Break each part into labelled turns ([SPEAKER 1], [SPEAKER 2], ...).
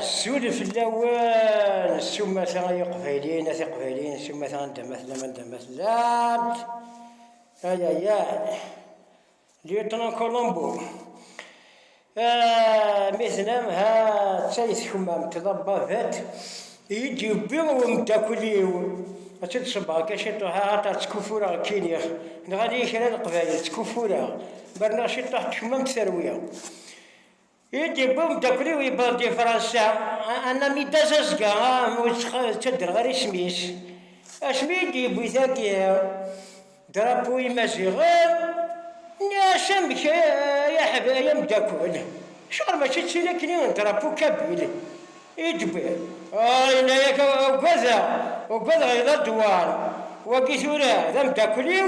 [SPEAKER 1] Suli fell-awen s umata ay iqbayliyen, at iqbayliyen s umata anda ma tellam anda ma tellamt. Ay ay ay. Lieutenant Colombo. Mi tennam ha d tay tkemmamt d ababat iyi-d-yewwi umeddakel-iw ad tt-id-ṣebbeɣ kan ciṭuḥ axaṭer ttkuffureɣ kkiniɣ, nɣan-iyi kra n leqbayel ttkuffureɣ, ma rniɣ ciṭuḥ tkemmamt terwi. I d-yewwi umeddakel-iw i Baldi Fransa, anami d azazga ur ttadreɣ ara isem-is, asmi i d-yewwi tagi drapeau imaziɣen, nniɣ-as amek ay ameddakel, acuɣer mačči d tin akk-nni n drapeau kabil i d-tewwi? Ah, yenna-ak ugadeɣ, ugadeɣ yella-d war, wagi tura d ameddakel-iw.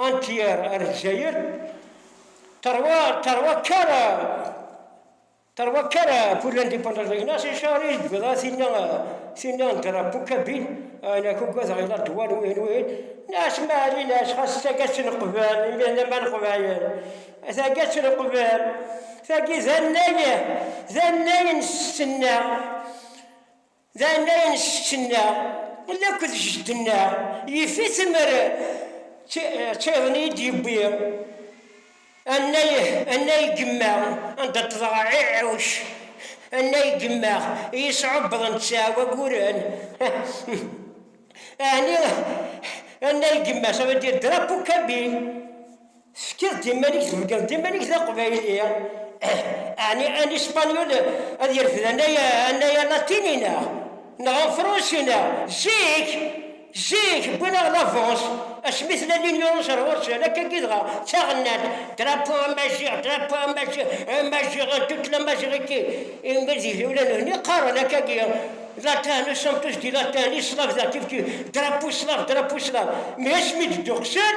[SPEAKER 1] Antier ar Lezzayer, terwa, terwa kara, terwa kara pour l'indépendance de Ignace Charles, bda tinna, tinna n drapeau kabine, ana ko gwadeɣ ila ddwar wihin wihin, nas mari nas xas tagatt n qbal, imi d aman qbayen, tagatt n qbal, tagi d annay, d annay n stenna, D annar n ssečč-nneɣ, ul akked jeddi-nneɣ, yif-it mer ttayeḍ i yi-d-yewwi annay gemma anda ṭṭḍeɣ ɛiɛuc, annay gemma i yi-sɛubbeḍen ttɛa waguren, ɛni annay gemma ça veut dire drapeau kabyle. Tefkiḍ-d iman-ik, theggaḍ-d iman-ik d aqbayli, ɛni an ispagnul ad yerfed annay alatini neɣ neɣ afransi neɣ? Zik, zik wwin-aɣ lavance asmi tella l'union ɣer ɣur-sen, akkagi dɣa d taɣennant, drapeau amaziɣ, drapeau amaziɣ, imaziɣen, toute la mazighique, ingliz ula d nutni qqaren akkagi, latin, nous sommes tous des latins, les slaves, da kif kif, drapeau slave, drapeau slave, mais asmi d-dduqsen,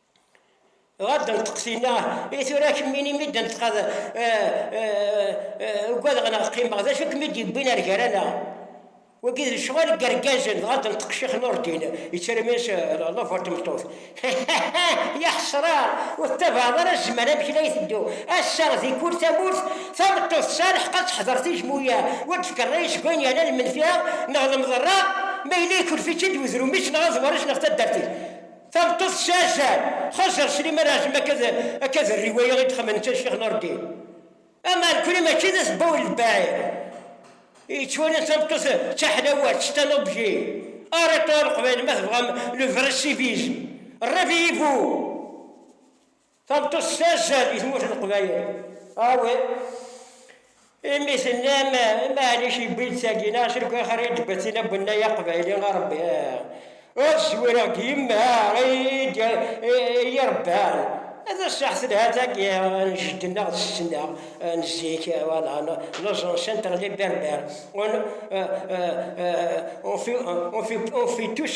[SPEAKER 1] Ɣad anṭeqtina i tura kemmini imi d anṭeqad ugadeɣ neɣ qqimeɣ d acu kem-id yewwin ar gar-aneɣ wagi d lecɣal n yergazen dɣa d anṭeq ccix Nurdin yettremmis love ar tmeṭṭut ya ḥesra ur tettabaɛeḍ ara zzman amek la iteddu ass-a di kul tamurt tameṭṭut tesɛa lḥeq ad teḥder tijmuya ur d-fkan ṛṛay seg wayen yernan lmenfiɛa neɣ lemḍerra ma yella ikurf-itt-id wedrum-is neɣ aḍewar-is neɣ taddart-is. Tabeṭṭut tessazan, xas ɣer Sliman Ɛazem akka d rriwaya i d-xemmen netta d Ccix Nurdin. Ama nekkni mačči d asebbaw n lbaɛid i yettwalan tabeṭṭut d taḥlawalt, c'est un objet. Arrêtons leqbayel ma tebɣam le vrai civisme. Réveillez-vous! Tameṭṭut s azal di tmurt n Leqbayel. Awi, imi tennam Maɛlic yewwi-d tagi neɣ s lekwax ara yi-d-betten abennay aqbayli a Rebbi, ad zwireɣ deg yemma i yi-rebban. D sseḥ telha tagi n jeddi-nneɣ d setti-nneɣ n zik, wala, n uẓensi n teɣli berber, on fit tous,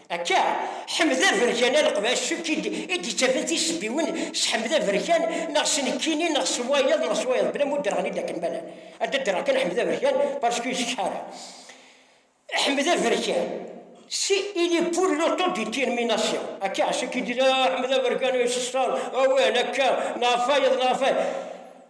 [SPEAKER 1] Akka, Ḥmed Aberkan Aleqbac s ukki i d-yettafen tisebbiwin s Ḥmed Aberkan neɣ s nekkini neɣ s wayeḍ neɣ s wayeḍ bla ma ur d-rɣen-id akken ma llan. Ad d-rreɣ kan Ḥmed Aberkan parce que yessekḥa ara. Ḥmed Aberkan, si, il est pour l'autodétermination. Akka, s ukki i d-yettafen, ah, Ḥmed Aberkan yesseṣṣan, awal, akka, neɣ ɣef wayeḍ neɣ ɣef wayeḍ.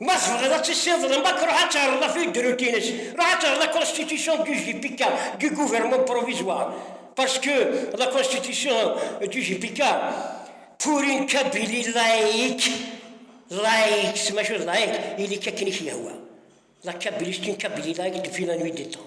[SPEAKER 1] Ma tebɣiḍ ad tissiḍ lmak, ruḥ ad terreḍ ɣef udrutin-is, ruḥ ad terreḍ la constitution du JPK, du gouvernement provisoire, parce que la constitution du JPK, pour une Kabylie laïque, laïcs, maca laïque, ili-k akken i k-yehwa, la Kabylie, c'est une Kabylie laïque depuis la nuit des temps.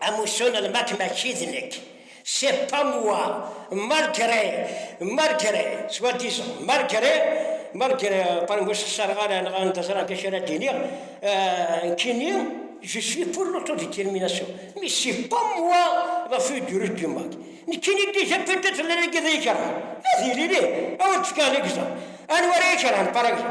[SPEAKER 1] Amussu n lmak mačči d nekk. C'est pas moi, malgré, malgré, soit disant, malgré, malgré, pardon, ur sxeṣareɣ ara neɣ anda ẓran d acu ara d-iniɣ, nekkini, je suis pour l'autodétermination, mais c'est pas moi le feu du russe du Mac. Nekkini déjà peut-être la nagi d ikerhan, ad yili lih, ad wen-d-fkeɣ ligeẓer. Anwa ara ikerhan, par exemple?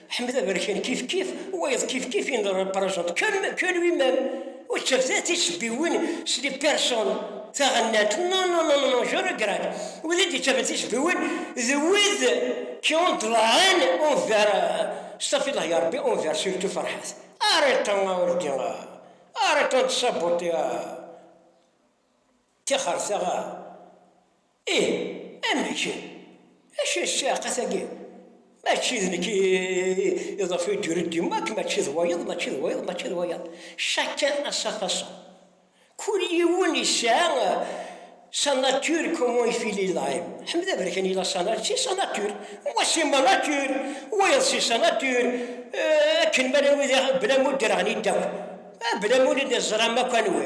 [SPEAKER 1] Ḥmed Aberkan kifkif, wayeḍ kifkif in the represent comme que lui-même. Ur ttafet ara tisebbiwin s les personnes, taɣennant, non, non, non, non, je regrette, wid i d-yettafen tisebbiwin d wid qui ont de la haine envers, stafillah ya Rebbi, envers surtout Ferḥat. Arrêtons a olddi a, arrêtons de saboter a, tixerta a. Ih, amek? Acu d ssiɛqa-agi? Mačči d nekk i iḍef i d-yured yemma akk mačči d wayeḍ, mačči d wayeḍ, mačči d wayeḍ. Chacun a sa façon. Kul yiwen yesɛa sa nature comment il file il aime. Ḥmed Aberkan il a sa nature, c'est sa nature. Moi c'est ma nature, wayeḍ c'est sa nature, akken ma llan wid i aɣ, bla ma ur d-rɣen yiddawen, bla ma ur d-iẓram akk anwi.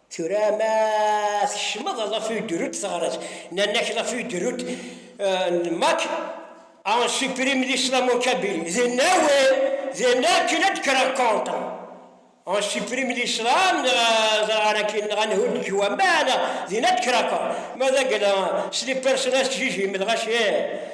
[SPEAKER 1] Tura ma tkecmeḍ la feuille de route teɣres, nnan-ak la feuille de route n Mac a on supprime l'islam en Kabylie, d nawel, d akken ad d-kreɣ contre on supprime l'islam neɣ ẓreɣ ara akin neɣ ad nhudd deg waman, din ad d-kreɣ contre, ma d akken c'est des personnages que j'ai j'aime, dɣa ccee.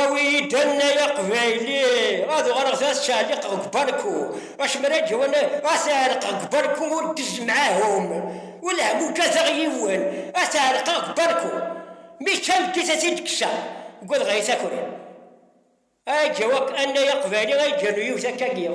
[SPEAKER 1] Awi-yi-d annay aqbayli ad uɣaleɣ d as-ɛelliqeɣ deg ubarku, acemma ad d-yawi as-ɛelqeɣ deg ubarku ur d-izemɛahum, wellah ma ugadeɣ yiwen as-ɛelqeɣ deg ubarku, mi yečča lgit ad t-id-kkseɣ, ugadeɣ ay takri. Ad d-yawi annay aqbayli ad d-yernu yiwet akka lliɣ